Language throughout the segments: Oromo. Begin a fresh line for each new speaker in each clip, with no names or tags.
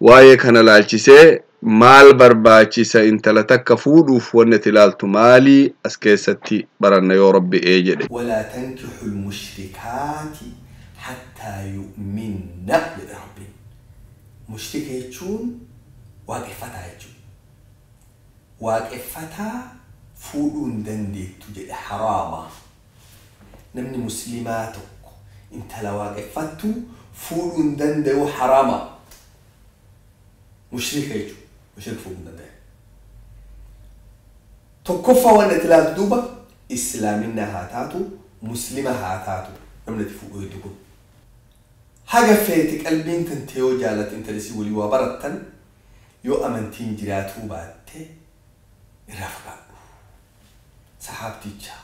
Waa'ee kana laalchisee maal barbaachisa intala takka fuudhuuf wanni ati laaltu maali as keessatti baranna yoo Rabbi ee jedhe. Walaa tankixu
lmushrikaati hattaa yu'minna jedhe Rabbiin. Mushrika jechuun waaqeffataa jechuudha. Waaqeffataa fuudhuu hin dandeettu jedhe haraama. Namni muslimaa tokko intala waaqeffattu fuudhuu hin danda'u haraama. Mushrika jechuudha. Mushrik fuudhuu hin danda'u. Tokkoffaa waan itti ilaaltu duuba islaaminaa haa taatu muslima haa taatu namni itti fuudhu hedduu kun. Haga feete qalbiin tante yoo jaalatte intala isii walii waa barattan yoo amantiin jiraatuu baatte irraa fagaadhu. sahaabticha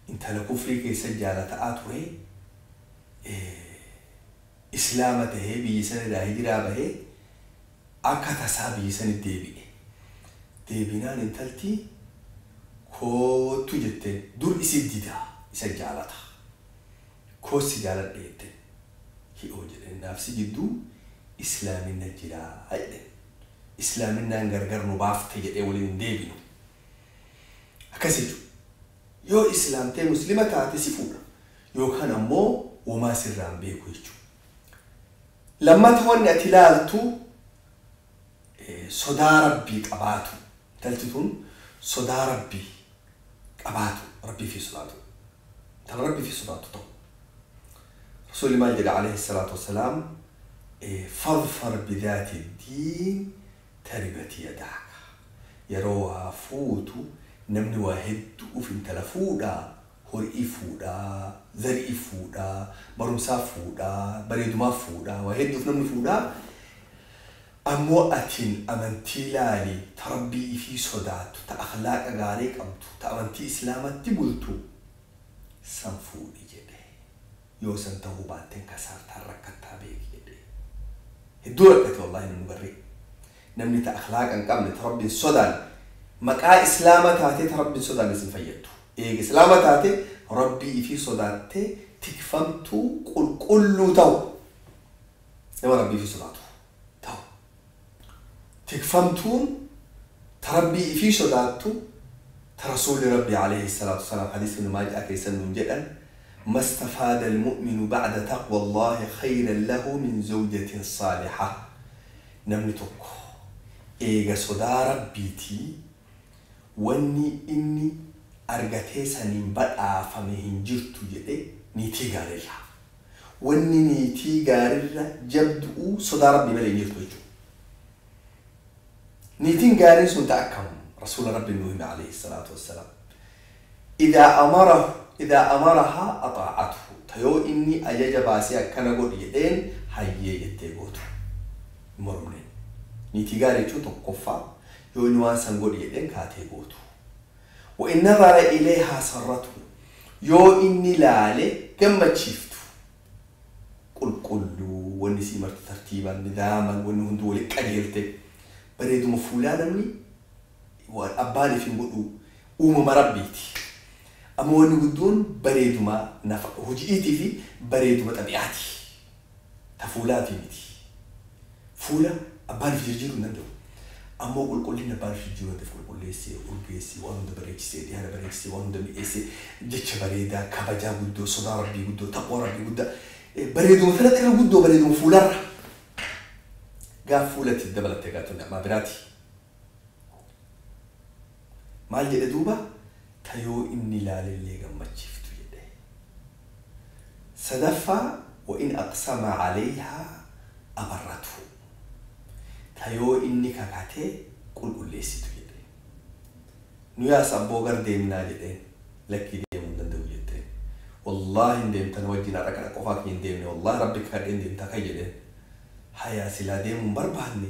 intala kufrii keessa jaalata'aa ture, islaama tahee biyya san irraa hijiraa bahee akka tasaa biyya sanitti deebi'e. Deebinaan intalti koottu jetteen. Dur isi dida, isa jaalata. Koos si jaaladhe jetteen. Hi'oo jedheen naaf si jidduu islaaminna jiraa jedheen. Islaaminaan gargar nu baafte jedhee waliin hin deebinu. Akkasi jechu yoo islaamtee muslima taate si fuudha yookaan ammoo womaa sirraa hin beeku jechu. Lammata wanni ati laaltu sodaa rabbii qabaatu intalti tun sodaa rabbii qabaatu rabbii fi sodaatu intala rabbii fi sodaatu ta'u rasuulli maal jedha alayhi salaatu wassalaam fadfar bidaati diin Taribati yadaa kaa yeroo waa fuutu namni waa heddu'uuf intala fuudhaa hori'iif fuudhaa zari'iif fuudhaa barumsaaf fuudhaa bareedumaaf fuudhaa waa hedduuf namni fuudhaa ammoo atin amantii laali ta rabbii ifii sodaattu ta akhlaaqa gaarii qabdu ta amantii islaamatti bultu san fuudhi jedhe yoo san tahuu baatteen kasaartaa rakkattaa beeki jedhee hedduu rakkate wallaahi namni barri namni ta akhlaaqa hin qabne ta rabbi hin sodaanne maqaa islaama taatee ta rabbi hin sodaanne sin fayyaddu eega islaama taate rabbii ifii sodaattee tikfamtuu qulqulluu tahu nama rabbii ifii sodaatu tahu. Tikfamtuun ta Rabbii ifii sodaattu, ta Rasuulli Rabbii aleyhi salaatu wasalaam hadiisa ibnu maajah keessa nuun jedhan, mastafaada almu'minu ba'da taqwa Allaahi khayran lahu min zawjatin saalihah, namni tokko eega sodaa Rabbiitii wanni inni argatee saniin badhaafame hin jirtu jedhe niitii gaarirraa. Wanni niitii gaarirra jabdu'uu sodaa Rabbii malee hin jirtu jechu'u. Niitin gaariin sun ta akkam? Rasuula Rabbiin nuu hime aleyhi salaatu wassalaam, Idhaa amarahu idhaa amarahaa axaa'athu ta yoo inni ajaja baasee akkana godhi jedheen hayyee jettee gootu. Hin mormne. Niitii gaarii jechuun tokkoffaa yoo inni waan san godhi jedheen kaatee gootu. Wa'in nazara ileeyhaa sarratu yoo inni laale gammachiiftu, qulqulluu, wanni isii marti tartiiban, nidaaman, wanni hunduu walitti qajeelte, bareeduma fuulaa namni waan abbaan if hin godhuu, uumama Rabbiiti. Ammoo wanni guddoon bareeduma nafa huji'iitii fi bareeduma xabi'aati. ta fuulaatii miti. Fuula abbaa nuuf jirjiiruu hin danda'u. Ammoo qulqullinni abbaa nuuf jirjiiruu dandeef qulqulleessee, urgeessee, waan hunda bareechisee, dhihaana bareechisee, waan hunda mi'eessee, jecha bareedaa, kabajaa guddoo, sodaa Rabbii guddoo, taqwaa Rabbii guddaa, bareeduma tanatti irra guddoo bareeduma fuularra. Gaaf fuulatti dabalatte egaa tun ni'maa biraati. Maal jedhe duuba? Ta yoo inni ilaalellee gammachiiftu jedhe. Sadaffaa, Wa in aqsama alayhaa abarrathu. Ta yoo inni kakate qulqulleessitu jedhe. Nuyaas abboo gar deemnaa jedheen. Lakkii deemuu hin danda'u jetteen. Wallaahi hin deemta na wajjin har'a kana qofaa kiyya hin deemne wallaahi rabbi kakadheen deemta ka'i jedheen. Hayaa silaa deemuu hin barbaanne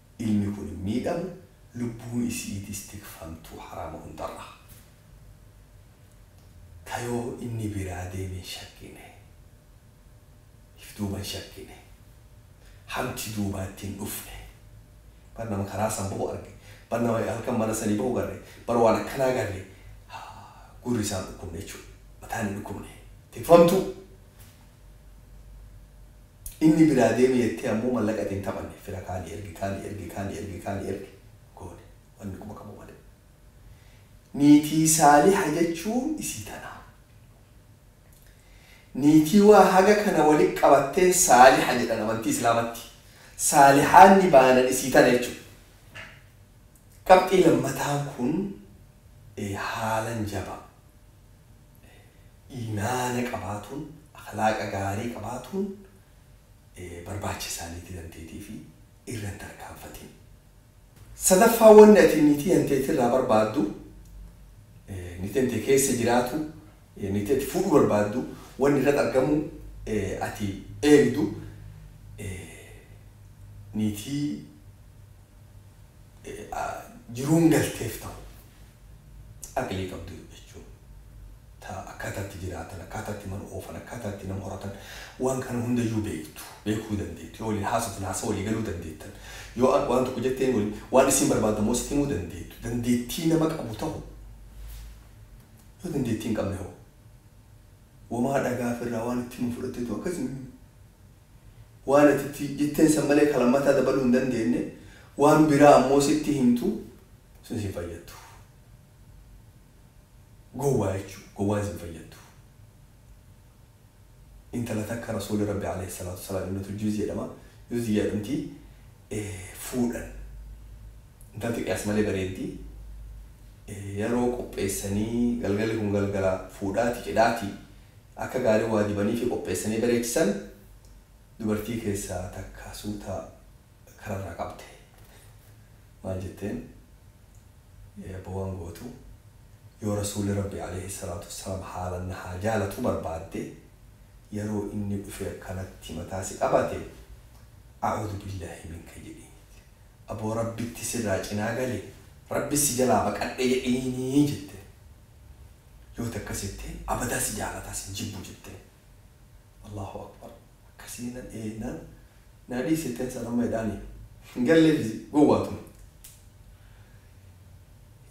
ilmi kun hin miidhamu, lubbuun isi'iitis tikfamtuu haraama hundarraa. Ta yoo inni biraa deeme hin shakkine. If duuba hin shakkine. Hamti duubaa itti hin dhufne. Bar nama karaa san bahu arge. Bar nama halkan mana sanii bahu garre. Bar waan akkanaa garre. Gurri isaa hin dhukkubne jechuudha. Mataan hin dhukkubne. Tikfamtuu! Inni biraa deemi jettee ammoo mallaqa itti hin taphanne. Fira kaani ergi, kaani ergi, kaani ergi, kaani ergi goone. Wanni quba qabu malee. Niitii Saaliha jechuun isii tana. Niitii waa haga kana walitti qabattee Saaliha jedhan amantii Islaamatti. Saalihaanni baanan isii tana jechuudha. Qabxii lammataan kun haalan jabaa. iimaana qabaatuun, akhlaaqa gaarii qabaatuun barbaacha isaaniitii tanteetiifi irra hin tarkaanfatin. Sadaffaa wanni ati niitii tanteetirraa barbaaddu, niitii tantee keessa jiraatu, niitii ati fuudhuu barbaaddu wanni irratti argamuu ati eegdu niitii jiruun galteef ta'u aqlii qabdu jechuun ta akkaataa itti jiraatan akkaataa itti mana oofan akkaataa itti nama horatan waan kana hundayyuu beektu beekuu dandeettu yoo waliin haasoftan haasa walii galuu dandeettan yoo an waan tokko jetteen wali waan isiin barbaaddu ammoo sitti himuu dandeettu dandeettii nama qabu ta'u yoo dandeettii hin qabne hoo wamaa dhagaaf irraa waan itti himu fudhatteetu akkasii Waan ati itti jetteen san malee ka lammataa dabaluu hin dandeenne, waan biraa ammoo sitti himtu, sun sin fayyaddu. Gowwaa jechuu, gowwaan sin fayyaddu. Intala takka Rasuulli Rabbii aleyhi salaatu wa salaam Ibnatul Juuzi jedhama, Juuziyya jedhamti, fuudhan. Intalti qiyaas malee bareeddi. Yeroo qopheessanii, galgalli kun galgala fuudhaati, cidhaati. akka gaarii waa dibaniifi qopheessanii bareechisan dubartii keessaa takka suuta kararraa qabde. Maal jetteen? Ee abbo waan gootu, yoo Rasuulli Rabbii aleyhi salaatu wassalaam haalan na haa jaalatu barbaadde, yeroo inni dhufee akkanatti mataa si qabate, A'uudu billaahi minka jedhiiniiti. Aboo Rabbitti sirraa cinaa gale, Rabbis si jalaa baqadhe jedhiini jetteen. Yooti akkas jette abadaa si jaalataa sin jibbu jette Allahu Akbar akkasii na dheennan na dhiis jetteen san amma hidhaani hin galleefi gowwaa tuni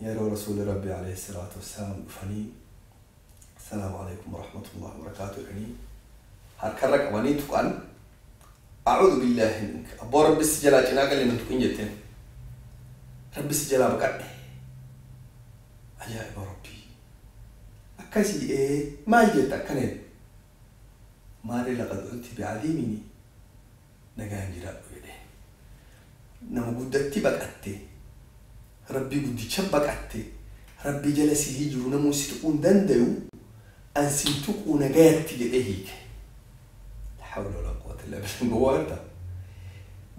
yeroo rasuuli rabbi alayhi salaatu wassalaam dhufanii assalaamu alaykum warahmatullahi wabarakaatu jedhanii harkarra qabanii tuqan Acuudu billahi minka abboo rabbi si jalaa cinaa galle nan tuqin jetteen rabbi si jalaa baqadhe ajaa'iba rabbii akkasi ee maal jetta akkana jette maarree laqad unti bi'aziimini nagaan jiraadhu jedheen nama guddatti baqatte rabbii guddicha baqatte rabbii jala si hijiru namuu si tuquu hin dandayu an sin tuquu nagayatti jedhee hiike La hawla wa la quwwata illa billah gowwaan ta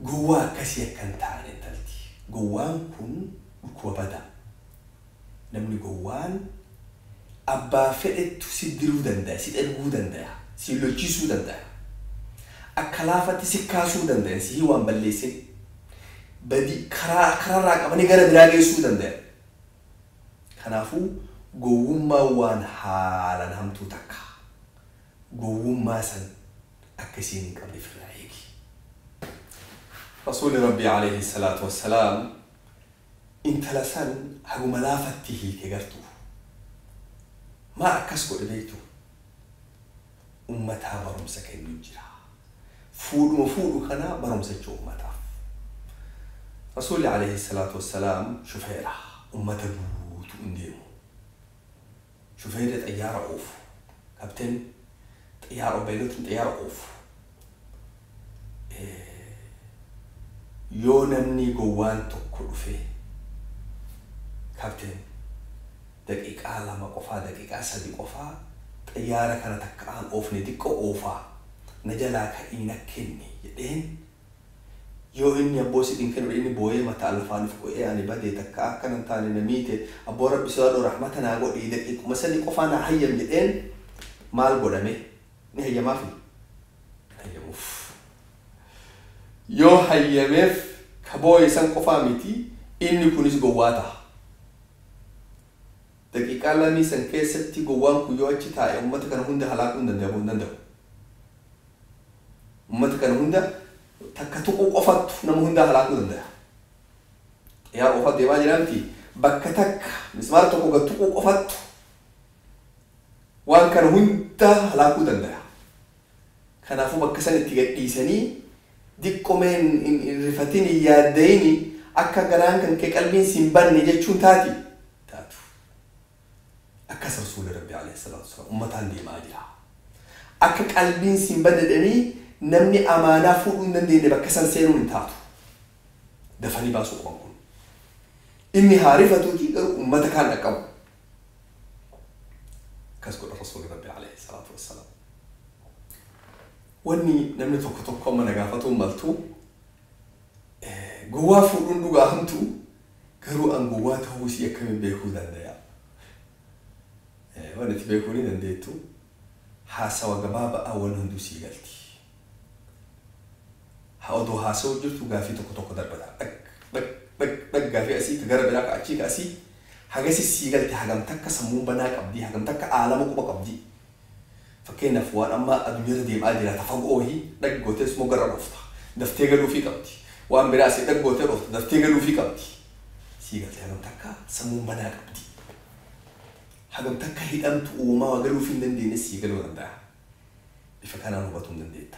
gowwaa akkasii akka hin taane intalti gowwaan kun dhukkuba badaa namni gowwaan abbaa fedhettu si diruu dandaya si dherguu dandaya si lolchiisuu dandaya akka laafatti si kaasuu dandayan sihii waan balleessin badi karaa kararraa qabanii gara biraa geessuu dandayan kanaafuu gowwummaan waan haalan hamtuu takka Gowwummaa san akka isiin hin qabne firraa eegi. Rasuulli Rabbii Aleeyhi salaatu wassalaam intala san haguma laafatti hiike gartuu. Maa akkas godhe beeytuu? Ummataa barumsa kennu jira. Fuudhuma fuudhu kana barumsa jechuu ummataaf. Rasuulli Aleeyhi salaatu wassalaam shufeera ummata guutu'uun deemu. shufeerri xayyaara oofu, captain, xiyyaara oofu, beelotni xiyyaara oofu, yoo namnii gowwaan tokko dhufee, captain, daqiiqaa lama qofaa, daqiiqaa sadi qofaa xiyyaara kana takka aan oofne diqqo oofaa, na jalaa ka'ii na kenni jedheen, Yoo inni abboo siif hin kenure inni booyee mataa lafaa nuf qo'ee ani badee takkaa akkana hin taane na miite abboo rabbi sodaadhuu rahmata naa godhii daqiiquma sanii qofaa naa hayyam jedheen maal godha mee ni hayyamaafii hin hayyamuuf yoo hayyameef ka booye san qofaa miti inni kunis gowwaa taha daqiiqaa lamii san keessatti gowwaan kun yoo achi taa'e ummata kana hunda halaakuu hin danda'amu hin danda'u. Ummata kana hunda takka tuquu qofattu nama hundaa halaakuu dandaya. Xiyyaara oofaa deemaa jiraa miti bakka takka mismaara tokko gad tuquu qofattu waan kana hundaa halaakuu dandaya. Kanaafuu bakka san itti gad dhiisanii diqqomee hin rifatin hin yaaddayini akka garaan kan kee qalbiin siin banne jechuun taati taatu. Akkas Rasuulli Rabbii Aleyh salaatu wa salaam ummataan deema'aa jira. Akka qalbiin siin badde jedhanii namni amaanaa fuudhuu hin dandeenne bakka san seenuun hin taatu. Dafanii baasuu qaban kun. Inni haa rifatuutii garuu ummata kaan dhaqqabu. Akkas godhan Rasuulli Rabbii Aleyh salaatu wa salaam. Wanni namni tokko tokko amma na gaafatuu maltu, gowwaa fuudhuun dhugaa hamtu Garuu an gowwaa tahuu isii akkamiin beekuu dandaya? Wan ati beekuu ni dandeettu haasawa gabaaba'aan wan hunduu sii galti. Ha odoo haasawuu jirtu gaafii tokko tokko darbata. Dhag dhag dhag dhag gaafii asii ka gara biraa ka achii ka asii. Hagasi sii galte hagam takka sammuun banaa qabdii hagam takka aalama quba qabdii. Fakkeenyaaf waan amma adunyarra deem'aa jira ta fagoo wahii dhag gootee smoo garra dhoofta. Daftee galuufii qabdi. Waan biraa asii dhag gootee dhoofta daftee galuufii qabdi. Sii galtee hagam takka sammuun banaa qabdi. Hagam takka hidhamtu'uu womaa waa galuufii hin dandeenye sii galuu danda'a. Bifa kanaan hubatuun dandeetta.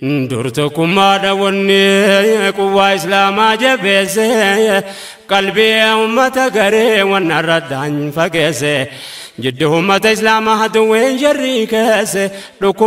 Dur tokkummaadha wanni quwwaa islaamaa jabeesse qalbii ummata garee wan arraddaan fageesse jiddu ummata islaamaa duwween jarrii keesse dhukkuba